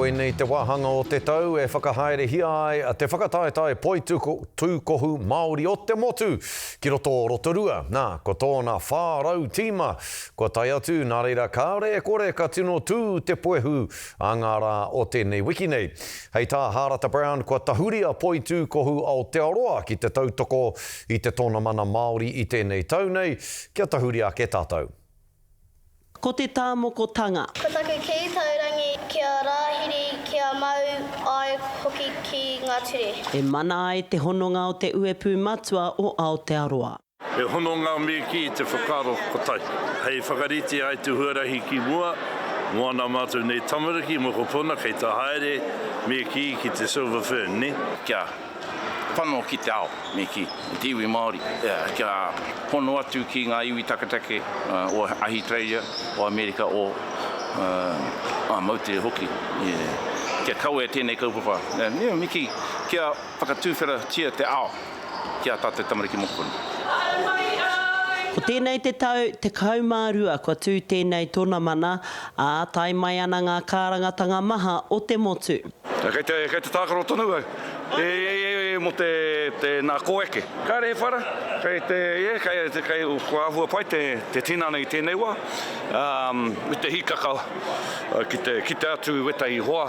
Koinei te wāhanga o te tau e whakahaerehia ai te whakataetae poitūkohu Māori o te motu ki roto o Rotorua, nā, ko tōna 400 tīma kua tae atu, nā reira kāore e kore ka tino tū te puehu a ngā rā o tēnei wiki nei. Hei tā Hārata Brown kua tahuri a Poitūkohu Aotearoa ki te tautoko i te Tōnamana Māori i tēnei tau nei kia tahuri ake tātou. Ko te tāmokotanga. Kua taku kī, taurangi kia rāhiri, kia mau ai hoki ki ngā ture. E mana ai te hononga o te uepū matua o Aotearoa. He hononga me kī te whakaaro kotahi. Hei whakarite ai te huarahi ki mua, moana mātou nei tamariki, mokopuna kei te haere me kī ki te Silver Fern, nē? Kia. pango ki te ao me kī, me te iwi Māori, kia hono atu ki ngā iwi taketake o Ahitereiria, o Amerika, o Moutere hoki, kia kawea tēnei kaupapa, me kī, kia whakatuwheratia te ao ki ā tātou tamariki mokopuna. Ko tēnei te tau 12 kua tū tēnei tonamana, ā, tae mai ana ngā kārangatanga maha o te motu. Kei te, kei te tākaro tonu au. E, e, e, mō te, te, nā, kōeke. Kāre he whara, kei te, yeah, kei, kei, kei, kua āhua pai te, te tinana i tēnei wā. Um, me te hīkaka ki te, ki te atu i wētahi hoa,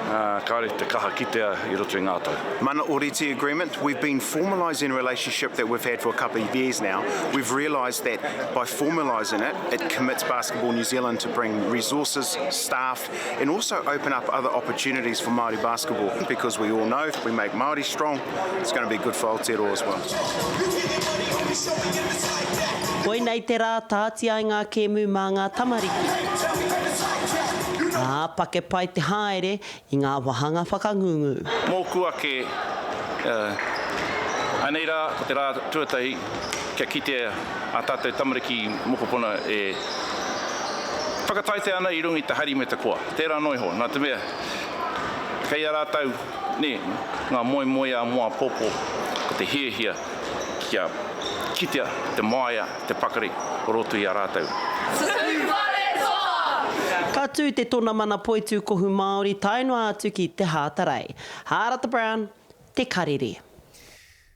ā, kāre te kaha kitea i roto i ngā tau. Mana Oriti Agreement, we've been formalising a relationship that we've had for a couple of years now. We've realised that by formalising it, it commits Basketball New Zealand to bring resources, staff, respect and also open up other opportunities for Māori basketball because we all know if we make Māori strong, it's going to be good for Aotearoa as well. Koinei te rā tāti ai ngā kēmu mā ngā tamariki. Ā, pake pai te haere i ngā wāhanga whakangungu. Mōku ake, uh, anei rā, ko te rā tuatahi, kia kite a tātou tamariki mokopuna e whakataetae ana i runga i te hari me te koa. Tērā noa iho, nā te mea, kei a rātou nē, ngā moemoeā mō āpōpō, ko te hiahia kia kitea te māia, te pakari o roto i a rātou. Ka tū te Tona Mana Poitū Kohu Māori tae noa atu ki Te Hātarei. Hārata Brown, Te Karere.